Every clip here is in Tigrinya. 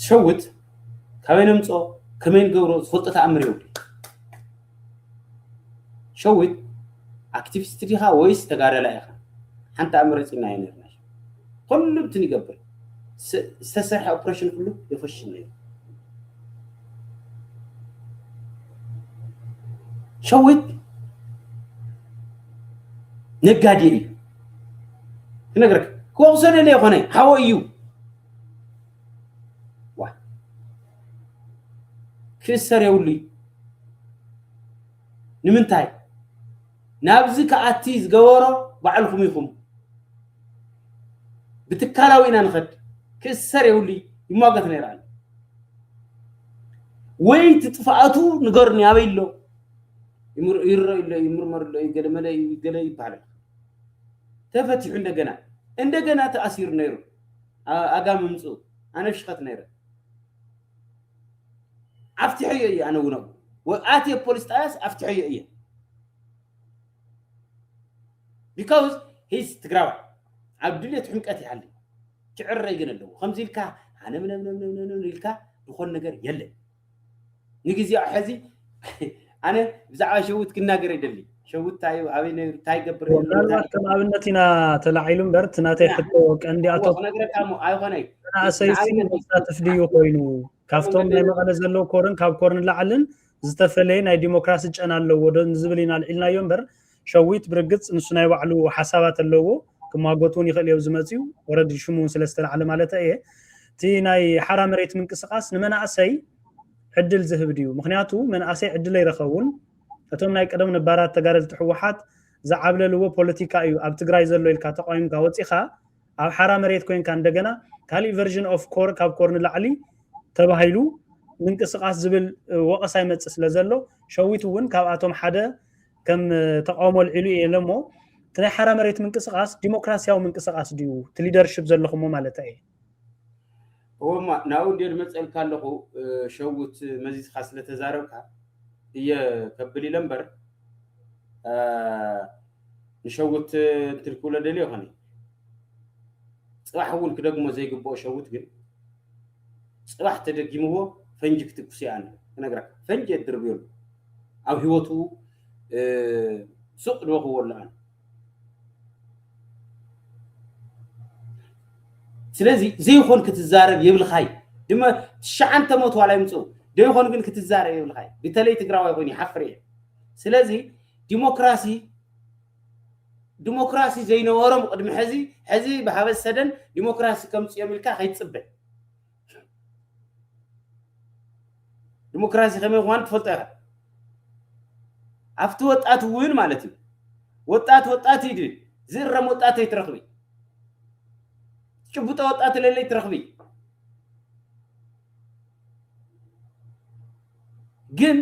ዝሸውት ካበይ ነምጾ ከመይ ንገብሮ ዝፈልጦ ተኣምር የብሉይ ሸዊት ኣክቲቪስት ዲኻ ወይስ ተጋዳላይ ኢኻ ሓንቲ ኣመሪጽና ኣይነርና ኩሉ እንትን ይገብር ዝተሰርሐ ኦፕሬሽን ኩሉ የፈሽል ነይሩ ሸዊት ነጋዴ እዩ ክነግረክ ክወቅሶ ደለ ይኮነ ሓወ እዩ ዋይ ክእሰር የብሉይ ንምንታይ ናብዚ ክኣቲ ዝገበሮ ባዕልኹም ኢኹም ብትካላዊ ኢና ንኸድ ክእሰር የብሉይ ይሟገት ነይረ ኣሎ ወይ እቲ ጥፍኣቱ ንገሩኒ ኣበይ ኣሎ ይርአዩ ኣሎ ይምርመሩ ኣሎ ገለመለ ገለ ይበሃል ተፈቲሑ እንደገና እንደገና ተኣሲሩ ነይሩ ኣጋ ምምጽኡ ኣነ ፍሽኸት ነይረ ኣፍትሐዮ እየ ኣነ እውን ኣብኡ ወኣትየ ፖሊስ ጣያስ ኣፍትሐዮ እየ ቢካውዝ ሂዝ ትግራዋይ ኣብ ድልየት ሕምቀት ይሃሊ ክዕረይ ግን ኣለዎ ከምዚ ኢልካ ሃነምነምነምነምነም ኢልካ ዝኾን ነገር የለን ንግዜኡ ሐዚ ኣነ ብዛዕባ ሸዊት ክናገር ይደሊ ሸዊት እንታይ እዩ ኣበይ ነይሩ እንታይ ይገብር ነይሩ እንታይ ምናልባት ከም ኣብነት ኢና ተላዒሉ እምበር እቲ ናተይ ሕቶ ቀንዲ እዎ ኣቶ ክነግረካ እሞ ኣይኮነይ መንእሰይሲ ንኣብነት እዩ መሳትፍ ድዩ ኮይኑ ካብቶም ናይ መቐለ ዘለዉ ኮርን ካብ ኮርን ላዕልን ዝተፈለየ ናይ ዲሞክራሲ ጨና ኣለዎ ዶ ንዝብል ኢና ኣልዒልናዮ እምበር ሸዊት ብርግጽ ንሱ ናይ ባዕሉ ሓሳባት ኣለዎ ክማጎት እውን ይኽእል እዮ ዝመፅኡ ወረዲ ሽሙ እውን ስለ ዝተላዕለ ማለት እየ እቲ ናይ ሓራ መሬት ምንቅስቃስ ንመናእሰይ ዕድል ዝህብ ድዩ ምክንያቱ መንእሰይ ዕድል ኣይረኸቡን እቶም ናይ ቀደም ነባራት ተጋደልቲ ሕወሓት ዝዓብለልዎ ፖለቲካ እዩ ኣብ ትግራይ ዘሎ ኢልካ ተቋሚምካ ወፂኻ ኣብ ሓራ መሬት ኮንካ እንደገና ካሊእ ቨርዥን ኦፍ ኮር ካብ ኮር ንላዕሊ ተባሂሉ ምንቅስቃስ ዝብል ወቐሳ ይመፅእ ስለ ዘሎ ሸዊት እውን ካብኣቶም ሓደ ከም ተቃውሞ ኣልዒሉ እየ ኢለ እሞ እቲ ናይ ሓራ መሬት ምንቅስቃስ ዲሞክራሲያዊ ምንቅስቃስ ድዩ እቲ ሊደርሽፕ ዘለኹሞ ማለት እየ እወማ ናብኡ እንዲ ድመፀልካ ኣለኹ ሸውት መዚዝካ ስለተዛረብካ እየ ከብል ኢለ እምበር ንሸውት እንትልክብሎ ደልዮ ይኾነ ፅባሕ እውን ክደግሞ ዘይግብኦ ሸውት ግን ፅባሕ ተደጊምዎ ፈንጂ ክትኩስ ይኣን ክነግረካ ፈንጂ የድርብዮሉ ኣብ ሂወቱ ሱቅ ዶ ክወልዖን ስለዚ ዘይኾን ክትዛረብ የብልኻይ ድማ ትሽዓንተ ሞት ዋላ ይምፅኡ ዘይኾን ግን ክትዛረብ የብልኻይ ብተለይ ትግራዋይ ኮይኑ ይሓፍር እየ ስለዚ ዲሞክራሲ ዲሞክራሲ ዘይነበሮም ቅድሚ ሕዚ ሕዚ ብሃበ ሰደን ዲሞክራሲ ከምፅኦም ኢልካ ከይትፅበ ዲሞክራሲ ከመይ ምዃኑ ትፈልጦ ኢኻ ኣብቲ ወጣት እውን ማለት እዩ ወጣት ወጣት እዩ ድብል ዝእረም ወጣት ኣይትረኽቢ ጭቡጦ ወጣት ለለይ ትረኽቢ ግን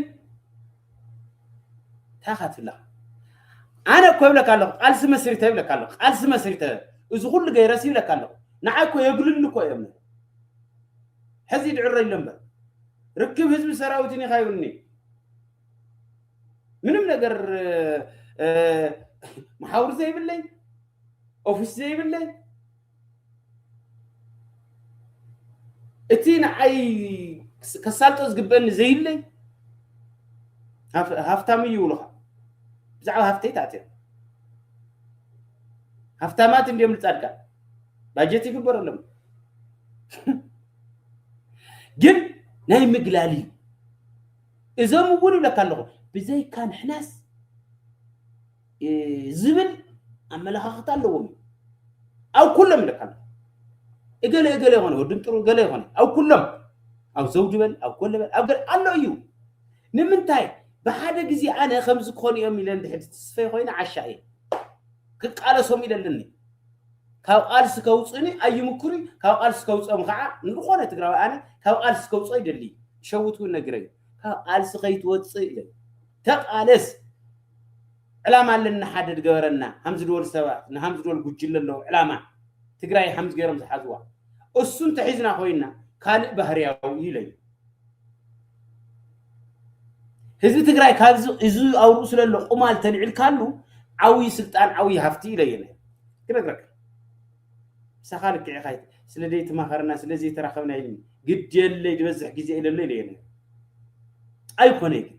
እንታይ ኢኻ ትብላ ኣነ እኮ ይብለካ ኣለኹ ቃልሲ መስሪተ ይብለካ ኣለኹ ቃልሲ መስሪተ እዚ ኩሉ ገይረሲ ይብለካ ኣለኹ ንዓይ እኮ የግልሉ እኮ እዮም ሕዚ ድዕረ ኢሎ እምበር ርክብ ህዝቢ ሰራዊትን ኢኻ ይብልኒ ምንም ነገር መሓውር ዘይብለይ ኦፊስ ዘይብለይ እቲ ንዓይ ከሳልጦ ዝግበእኒ ዘይብለይ ሃፍታም እዩ ይብሉኻ ብዛዕባ ሃፍተይ ተኣትዮም ሃፍታማት እንዲዮም ንፃድቃን ባጀት ይግበረሎም ግን ናይ ምግላል እዩ እዞም እውን ይብለካ ኣለኹ ብዘይካ ንሕናስ ዝብል ኣመለኻኽታ ኣለዎም እዩ። ኣብ ኩሎም ይለካ ኣሎ እገለ እገለ ይኾነ ወድን ጥሩ እገለ ይኾነ ኣብ ኩሎም ኣብ ዘውዲ በል ኣብ ኮለ በል ኣብ ገለ ኣሎ እዩ ንምንታይ ብሓደ ግዜ ኣነ ከምዚ ክኾኑ እዮም ኢለ እንድሕር ትስፈይ ኮይነ ዓሻ እየ ክቃለሶም ኢለ ኣለኒ ካብ ቃልሲ ከውፅኒ ኣይምኩሪ ካብ ቃልሲ ከውፅኦም ከዓ ንዝኾነ ትግራዊ ኣነ ካብ ቃልሲ ከውፅኦ ይደሊ ሸውት እውን ነግረዩ ካብ ቃልሲ ከይትወፅእ ኢለ ተቃለስ ዕላማ ኣለና ሓደ ድገበረና ሃም ዝድወል ሰባት ንሃም ዝድወል ጉጅለ ኣለዉ ዕላማ ትግራይ ሃምዝ ገይሮም ዝሓዝዋ እሱ እንተሒዝና ኮይና ካልእ ባህርያዊ እዩ ኢለዩ ህዝቢ ትግራይ ካብዚ እዚ ኣብ ርእሱ ለሎ ቁማል ተልዒልካሉ ዓብዪ ስልጣን ዓብዪ ሃፍቲ ኢለየ ክነግረካ ምሳኻ ልክዕ ኢኻ ስለ ዘይተማኸርና ስለ ዘይተራኸብና ኢልኒ ግድ የለይ ዝበዝሕ ግዜ ኢለሎ ኢለየ ኣይኮነ ግን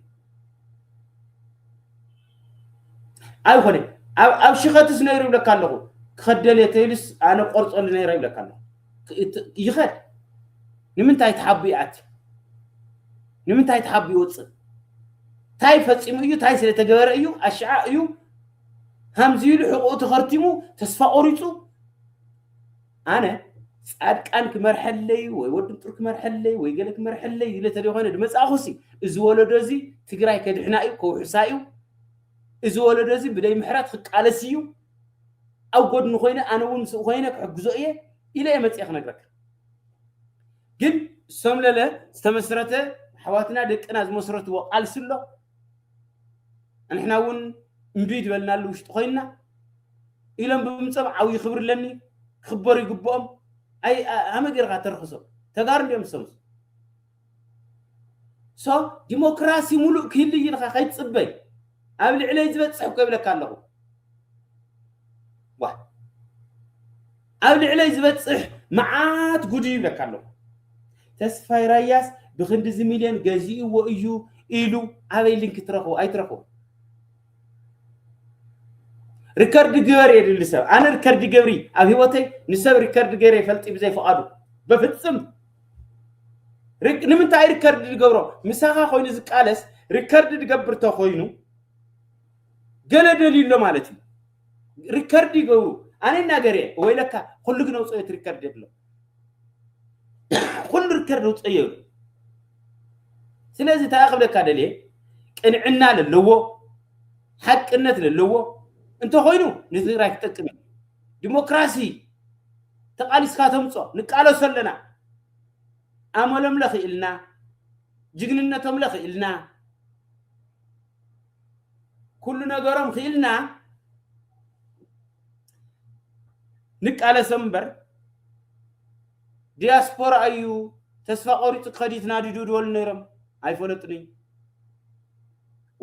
ኣይኮነ ኣብ ሽኸትስ ነይሩ ይብለካ ኣለኹ ክኸደልየ ተይሉስ ኣነ ቆርፀሉ ነይረ ይብለካ ኣለኹ ይኸድ ንምንታይ ተሓቡ ይኣቲ ንምንታይ ተሓቡ ይወፅእ እንታይ ፈፂሙ እዩ እንታይ ስለተገበረ እዩ ኣሽዓ እዩ ከምዚ ኢሉ ሕቑኡ ተኸርቲሙ ተስፋ ቆሪፁ ኣነ ጻድቃን ክመርሐለይ ወይ ወዲ ምጡር ክመርሐለይ ወይ ገለ ክመርሐለይ ኢለ ተደኾነ ድመጻእኹሲ እዚ ወለዶ እዚ ትግራይ ከድሕና እዩ ከውሕሳ እዩ እዚ ወለዶ እዚ ብደይ ምሕረት ክቃለስ እዩ ኣብ ጎድኒ ኮይነ ኣነ እውን ምስኡ ኮይነ ክሕግዞ እየ ኢለ እየ መፅኤ ክነግረካ ግን ሰምለለ ዝተመስረተ ኣሕዋትና ደቅና ዝመስረትዎ ቃልሲ ኣሎ ኣንሕና እውን እምቢ ዝበልናሉ ውሽጢ ኮይንና ኢሎም ብምምፀም ዓብዪ ክብሪ ኣለኒ ክኽበሩ ይግብኦም ኣይ ሃመ ገይርካ ተርክሶም ተጋሩ እንዲኦም ዝሰምሱ ሶ ዲሞክራሲ ሙሉእ ክህሉ እዩ ኢልካ ከይትፅበይ ኣብ ልዕለይ ዝበፅሕ እኮ ይብለካ ኣለኹ ዋ ኣብ ልዕለይ ዝበጽሕ መዓት ጉድ ይብለካ ኣለኩ ተስፋይ ራያስ ብክንድዚ ሚልዮን ገዚእዎ እዩ ኢሉ ኣበይ ሊንክ ትረክቦ ኣይትረክቦ ሪከርድ ግበር የድሊ ሰብ ኣነ ሪከርድ ገብሪ ኣብ ሂወተይ ንሰብ ሪከርድ ገይረ ይፈልጢ ብዘይ ፍቃዱ በፍጽም ንምንታይ ሪከርድ ዝገብሮ ምሳኻ ኮይኑ ዝቃለስ ሪከርድ ዝገብር ተኮይኑ ገለ ደልዩ ኣሎ ማለት እዩ ሪከርድ ይገብሩ ኣነ ይናገር እየ ወይለካ ኩሉ ግን ኣውፀዮት ሪከርድ የብሎ ኩሉ ሪከርድ ኣውፀዮ ይብሉ ስለዚ እንታይ ክብለካ ደልየ ቅንዕና ለለዎ ሓቅነት ለለዎ እንተኮይኑ ንትግራይ ክጠቅም እዩ ዲሞክራሲ ተቃሊስካ ተምፆ ንቃለሶ ኣለና ኣመሎም ለኽኢልና ጅግንነቶም ለኽኢልና ኩሉ ነገሮም ክኢልና ንቃለሶም እምበር ዲያስፖራ እዩ ተስፋ ቆሪፁ ክኸድ ይትናድዱ ዝበሉ ነይሮም ኣይፈለጡን እዩ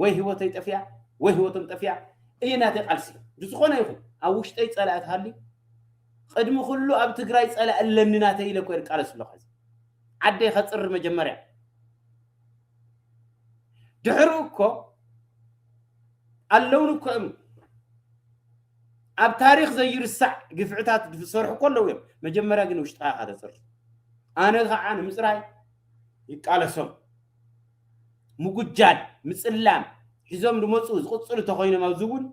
ወይ ህይወተይ ጠፊያ ወይ ህይወቶም ጠፊያ እዩ ናተይ ቃልሲ ብዝኾነ ይኹን ኣብ ውሽጠይ ፀላኢ ትሃሊ ቅድሚ ኩሉ ኣብ ትግራይ ፀላኢ ኣለኒ ናተይ ኢለ ኮ ይቃለስ ኣለኹ ዓደይ ከፅሪ መጀመርያ ድሕሩ እኮ ኣለውን እኮ እዮም ኣብ ታሪክ ዘይርሳዕ ግፍዕታት ዝሰርሑ እኮ ኣለዉ እዮም መጀመርያ ግን ውሽጥካ ኢካ ተፅርፍ ኣነ ከዓ ንምፅራይ ይቃለሶም ምጉጃል ምፅላም ሒዞም ዝመፁ ዝቕፅሉ ተኮይኖም ኣብዚ እውን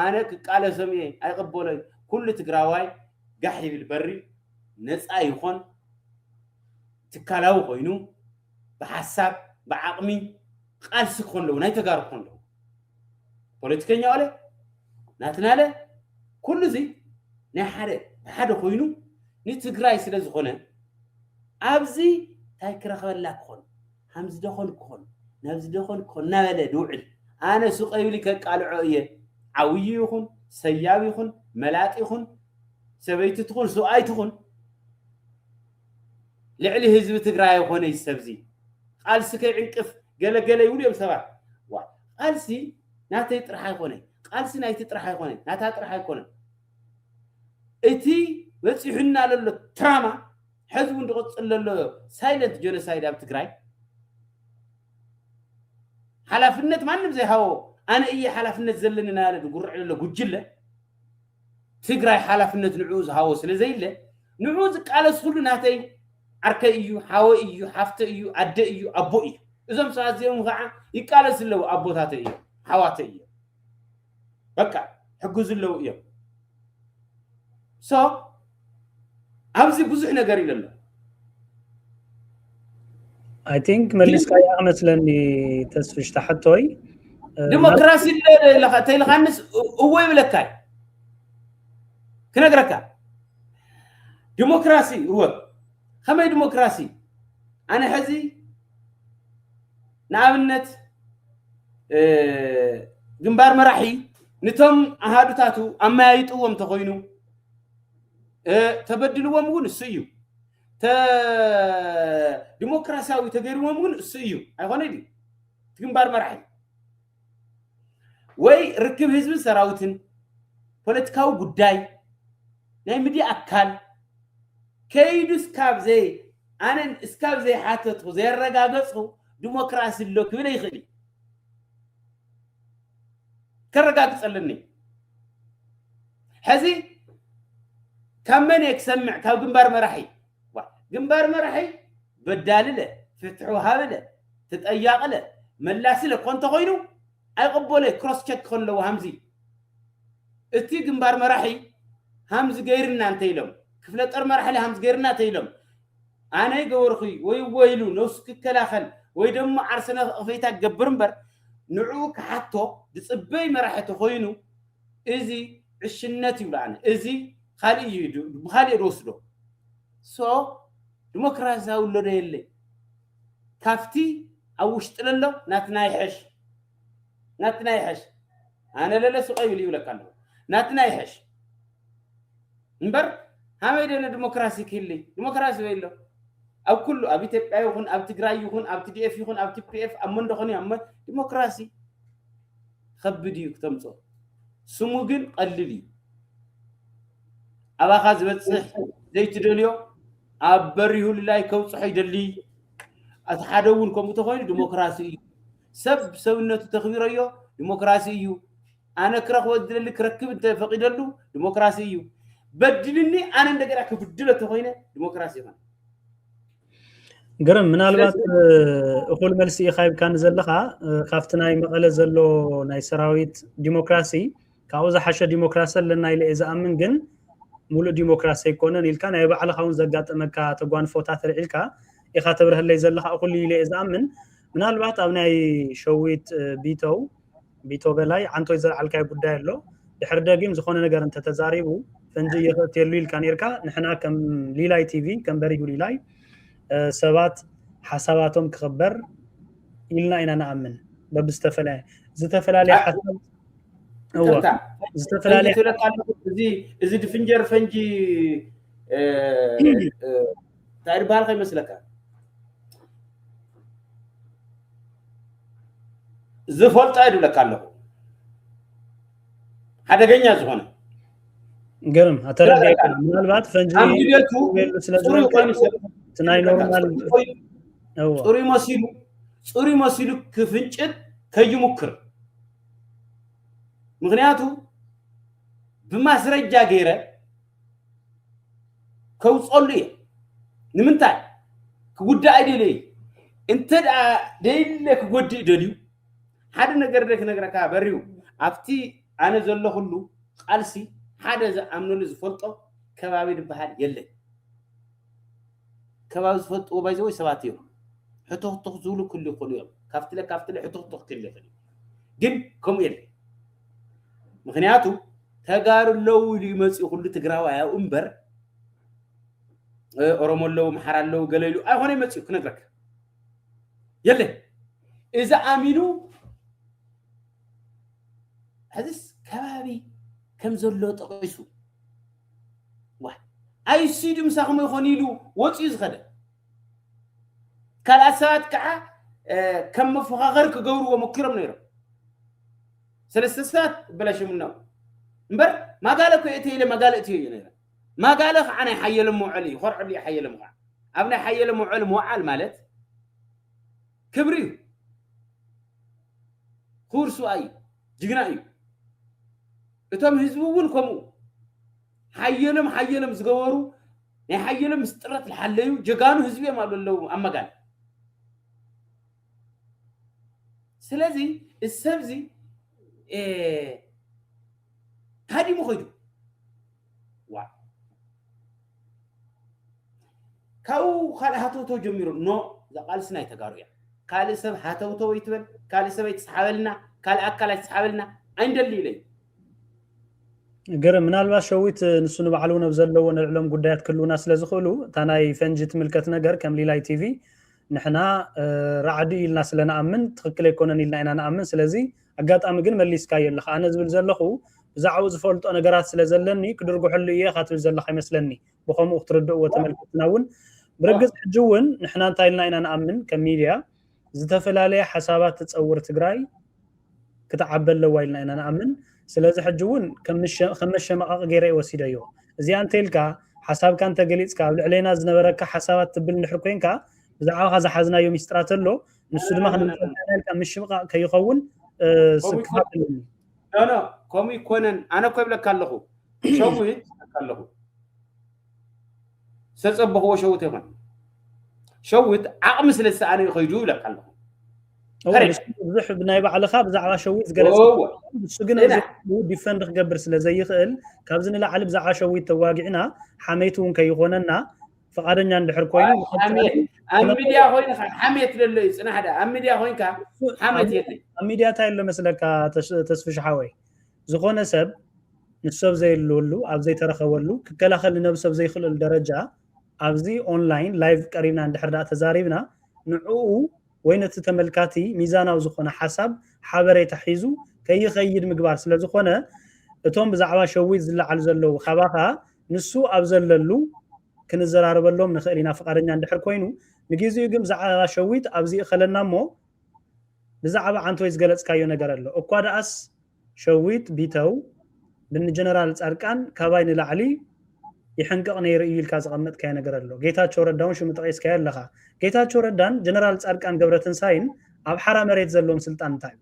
ኣነ ክቃለሶም እየ ኣይቕበሎይ ኩሉ ትግራዋይ ጋሕ ይብል በሪ ነፃ ይኾን ትካላዊ ኮይኑ ብሓሳብ ብዓቅሚ ቃልሲ ክኾኑ ኣለዎ ናይ ተጋሩ ክኾኑ ኣለዎ ፖለቲከኛ ዋለ ናትናለ ኩሉ እዚ ናይ ሓደ ብሓደ ኮይኑ ንትግራይ ስለ ዝኾነ ኣብዚ እንታይ ክረኽበላ ክኾን ሃምዚ ደኾን ክኾን ናብዚ ደኾን ክኾን እናበለ ድውዕል ኣነ ሱቀ ይብሊ ከቃልዖ እየ ዓውዪ ይኹን ሰያብ ይኹን መላጥ ይኹን ሰበይቲ ትኹን ሰብኣይ ትኹን ልዕሊ ህዝቢ ትግራይ ኣይኾነ እዚ ሰብ እዚ ቃልሲ ከይዕንቅፍ ገለ ገለ ይብሉ እዮም ሰባት ዋይ ቃልሲ ናተይ ጥራሕ ኣይኮነ ቃልሲ ናይቲ ጥራሕ ኣይኮነ ናታ ጥራሕ ኣይኮነን እቲ በፂሑና ለሎ ትራማ ሕዚ እውን ዝቕፅል ዘሎ ሳይለንት ጀኖሳይድ ኣብ ትግራይ ሓላፍነት ማንም ዘይሃቦ ኣነ እየ ሓላፍነት ዘለኒ ናበለ ዝጉርዕ ዘሎ ጉጅለ ትግራይ ሓላፍነት ንዕኡ ዝሃቦ ስለ ዘይለ ንዕኡ ዝቃለስ ኩሉ ናተይ ዓርከይ እዩ፣ ሓወይ እዩ፣ ሓፍተይ እዩ፣ ኣደይ እዩ፣ ኣቦይ እዩ። እዞም ሰባት እዚኦም ከዓ ይቃለሱ ኣለዉ ኣቦታተይ እዮም፣ ሓዋተይ እዮም። በቃ ሕግዙ ኣለዉ እዮም። ሶ ኣብዚ ብዙሕ ነገር ኢለ ኣለኹ I think መሊስካያ መስለኒ ተስፍሽ ተሓቶይ ዲሞክራሲ ተይልኻንስ እወ ይብለካ እዩ ክነግረካ ዲሞክራሲ እወ ከመይ ዲሞክራሲ ኣነ ሕዚ ንኣብነት ግንባር መራሒ ንቶም ኣሃዱታቱ ኣመያይጥዎም ተኮይኑ ተበድልዎም እውን እሱ እዩ ዲሞክራሲያዊ ተገይርዎም እውን እሱ እዩ ኣይኮነ ድዩ እቲ ግንባር መራሒ ወይ ርክብ ህዝብን ሰራዊትን ፖለቲካዊ ጉዳይ ናይ ሚድያ ኣካል ከይዱ እስካብ ዘይ ኣነ እስካብ ዘይሓተትኩ ዘየረጋገፅኩ ዲሞክራሲ ኣሎ ክብል ይኽእል እዩ ከረጋግጸልኒ ሕዚ ካብ መን እየ ክሰምዕ ካብ ግንባር መራሒ ግንባር መራሒ በዳልለ ፍትሑ ሃብለ ተጠያቕለ መላስለ እኮ እንተኮይኑ ኣይቕበሎ ክሮስ ቸክ ክኾን ኣለዎ ሃምዚ እቲ ግንባር መራሒ ሃምዚ ገይርና እንተኢሎም ክፍለ ጦር መራሒለ ሃምዚ ገይርና እንተኢሎም ኣነ ገበርኹይ ወይ እወ ኢሉ ነብሱ ክከላኸል ወይ ደሞ ዓርሰና እቕፌታ ክገብር እምበር ንዕኡ ክሓቶ ዝጽበይ መራሒ ተኾይኑ እዚ ዕሽነት ይብሎ ኣነ እዚ ኻሊእ እዩ ብኻሊእ እየ ዝወስዶ so ድሞክራሲያዊ ኣሎ ዶ የለይ ካፍቲ ኣብ ውሽጢ ለሎ ናትና ይሐሽ ናትና ይሐሽ ኣነ ለለ ሱቐ ይብል ይብለካ ኣለኹ ናትና ይሐሽ እምበር ሃመይ ደነ ድሞክራሲ ክህሊ ድሞክራሲ ወይሎ ኣብ ኩሉ ኣብ ኢትዮጵያ ይኹን ኣብ ትግራይ ይኹን ኣብ ቲዲኤፍ ይኹን ኣብ ቲፒኤፍ ኣብ መንደኾን ኣብ መ ድሞክራሲ ከብድ እዩ ክተምፆ ስሙ ግን ቀልል እዩ ኣባኻ ዝበፅሕ ዘይትደልዮ ኣብ በሪሁልላይ ከብፅሖ ይደሊ እቲ ሓደ እውን ከምኡ ተኮይኑ ዲሞክራሲ እዩ ሰብ ሰብነቱ ተኽቢረዮ ዲሞክራሲ እዩ ኣነ ክረኽቦ ዝደሊ ክረክብ እንተ ፈቒደሉ ዲሞክራሲ እዩ። በዲልኒ ኣነ እንደገና ክብድሎ ተኾይነ ዲሞክራሲ ይኾነ። ግርም ምናልባት እኹል መልሲ ኢኻ ይብካኒ ዘለኻ ካብቲ ናይ መቐለ ዘሎ ናይ ሰራዊት ዲሞክራሲ ካብኡ ዝሓሸ ዲሞክራሲ ኣለና ኢለ እየ ዝኣምን ግን ሙሉእ ዲሞክራሲ ኣይኮነን ኢልካ ናይ ባዕልኻ እውን ዘጋጠመካ ተጓንፎታት ርዒልካ ኢኻ ተብርሀለይ ዘለኻ እኹል ኢለ እየ ዝኣምን ምናልባት ኣብ ናይ ሸዊት ቢተው ቢቶ በላይ ዓንቶይ ዘልዓልካዮ ጉዳይ ኣሎ ድሕሪ ደጊም ዝኾነ ነገር እንተተዛሪቡ ፈንጂ እየኽእትየሉ ኢልካ ነርካ ንሕና ከም ሊላይ ቲቪ ከም በሪሁ ሊላይ ሰባት ሓሳባቶም ክኽበር ኢልና ኢና ንኣምን በብዝተፈላለየ ዝተፈላለየ ሓሳብ ዝተፈላለየ እዚ ድፍንጀር ፈንጂ እንታይ እዩ ዝበሃል ከይመስለካ ዝፈልጦ እየ ድብለካ ኣለኹ ሓደገኛ ዝኾነ ገርም ኣተረዲእካ ምናልባት ፈንጂ ኣብ ድሌቱ ክህሉ ስለ ፅሩይ ዝበልካ ኮይኑ ሰብ እቲ ናይ ኖርማል እዎ ፅሩይ መሲሉ ፅሩይ መሲሉ ክፍንጭል ከይሙክር ምክንያቱ ብማስረጃ ገይረ ከውፀሉ እየ ንምንታይ ክጉዳእ ኣይደለይ እንተ ደይለ ክጎድእ ደልዩ ሓደ ነገር ደ ክነግረካ በሪው ኣብቲ ኣነ ዘለኹሉ ቃልሲ ሓደ ዝኣምነሉ ዝፈልጦ ከባቢ ዝበሃል የለን ከባቢ ዝፈልጥዎ ባይዘወይ ሰባት እዮም ሕቶክቶክ ዝብሉ ክሉ ይኽእሉ እዮም ካብትለ ካብትለ ሕቶክቶክ ክል ይኽእል ግን ከምኡ የለን ምክንያቱ ተጋሩ ኣለዉ ኢሉ እዩ መፅኡ ኩሉ ትግራዋይ ኣብኡ እምበር ኦሮሞ ኣለዉ ምሓር ኣለዉ ገለ ኢሉ ኣይኮነ መፅኡ ክነግረካ የለን እዚ ኣሚኑ ሕዝስ ከባቢ ከም ዘሎ ጠቂሱ ኣይሲዱ ምሳኹም ይኾን ኢሉ ወፅኡ ዝኸደ ካልኣት ሰባት ከዓ ከም መፎኻኸሪ ክገብርዎ ሞኪሮም ነይሮም ሰለስተ ሰባት በላሽምኖም እምበር ማጋለ እኮ እቲ ኢለ ማጋለ እትዮ እዩ ነይረ ማጋለ ከዓ ናይ ሓየሎም መውዐሊ እዩ ኮርዐሉ እዩ ሓየሎም ከዓ ኣብ ናይ ሓየሎም መውዐሊ ምውዓል ማለት ክብሪ እዩ ክቡር ስብኣይ እዩ ጅግና እዩ እቶም ህዝቢ እውን ከምኡ ሓየሎም ሓየሎም ዝገበሩ ናይ ሓየሎም ምስጥረት ዝሓለዩ ጀጋኑ ህዝቢ እዮም ኣብ ለለዉ ኣብ መጋል ስለዚ እዚ ሰብዚ ታዲሙ ኮይዱ ዋ ካብኡ ካልእ ሃተውተው ጀሚሩ ኖ እዛ ቃልሲ ናይ ተጋሩ እያ ካልእ ሰብ ሃተውተው ይትበል ካልእ ሰብ ኣይትስሓበልና ካልእ ኣካል ኣይትስሓበልና ኣይንደሊ ኢለዩ ግርም ምናልባት ሸዊት ንሱ ንባዕሉ እውን ኣብ ዘለዎ ንልዕሎም ጉዳያት ክህልውና ስለ ዝኽእሉ እታ ናይ ፈንጂ ትምልከት ነገር ከም ሊላይ ቲቪ ንሕና ራዕዲ ኢልና ስለ ንኣምን ትኽክል ኣይኮነን ኢልና ኢና ንኣምን ስለዚ ኣጋጣሚ ግን መሊስካዮ ኣለካ ኣነ ዝብል ዘለኹ ብዛዕባኡ ዝፈልጦ ነገራት ስለ ዘለኒ ክድርጉሐሉ እየ ኢኻ ትብል ዘለካ ይመስለኒ ብከምኡ ክትርድእዎ ተመልከትና እውን ብርግፅ ሕጂ እውን ንሕና እንታይ ኢልና ኢና ንኣምን ከም ሚድያ ዝተፈላለየ ሓሳባት ትፀውር ትግራይ ክትዓቢ ኣለዋ ኢልና ኢና ንኣምን። ስለዚ ሕጂ እውን ከም መሸማቐቒ ገይረ እየ ወሲደዮ። እዚኣ እንተይልካ ሓሳብካ እንተገሊፅካ ኣብ ልዕሌና ዝነበረካ ሓሳባት ትብል እንድሕር ኮይንካ ብዛዕባኻ ዝሓዝናዮ ሚስጥራት ኣሎ ንሱ ድማ ክንምፀልካ ኢልካ ምሽምቓቕ ከይኸውን ስክፋት ኣለኒ። ኖ ኖ ከምኡ ይኮነን ኣነ እኮ ይብለካ ኣለኹ ሸዊት ኣለኹ ዝተጸበኽዎ ሸዊት ኣይኮነን ሸዊት ዓቕሚ ስለ ዝሰኣነ እዩ ከይዱ ይብለካ ኣለኹ ብዙሕ ናይ ባዕልኻ ብዛዕባ ሸዊት ዝገለፅ ንሱ ግን ዲፈንድ ክገብር ስለ ዘይኽእል ካብዚ ንላዕሊ ብዛዕባ ሸዊት ተዋጊዕና ሓመይቲ እውን ከይኾነና ፍቃደኛ እንድሕር ኮይኑ ኣብ ሚድያ ኮይንካ ሓሜት ዘሎ እዩ ፅናሕ ዳ ኣብ ሚድያ ኮይንካ ሓሜት የለ ኣብ ሚድያ እንታይ ኣሎ መስለካ ተስፍሽ ሓወይ ዝኾነ ሰብ ምስ ሰብ ዘይልወሉ ኣብ ዘይተረኸበሉ ክከላኸል ንነብሱ ኣብ ዘይኽእለሉ ደረጃ ኣብዚ ኦንላይን ላይቭ ቀሪብና እንድሕር ደኣ ተዛሪብና ንዕኡ ወይ ነቲ ተመልካቲ ሚዛናዊ ዝኾነ ሓሳብ ሓበሬታ ሒዙ ከይኸይድ ምግባር ስለ ዝኾነ እቶም ብዛዕባ ሸዊት ዝለዓሉ ዘለዉ ካባኻ ንሱ ኣብ ዘለሉ ክንዘራረበሎም ንኽእል ኢና ፍቃደኛ እንድሕር ኮይኑ ንግዜኡ ግን ብዛዕባ ሸዊት ኣብዚ እኸለና እሞ ብዛዕባ ዓንተወይ ዝገለጽካዮ ነገር ኣሎ እኳ ደኣስ ሸዊት ቢተው ን ጀነራል ጻድቃን ካባይ ንላዕሊ ይሕንቅቕ ነይሩ እዩ ኢልካ ዘቐመጥካዮ ነገር ኣሎ ጌታቸው ረዳ ውን ሽሙ ጠቒስካዮ ኣለኻ ጌታቸው ረዳን ጀነራል ጻድቃን ገብረትንሳይን ኣብ ሓራ መሬት ዘለዎም ስልጣን እንታይ እዩ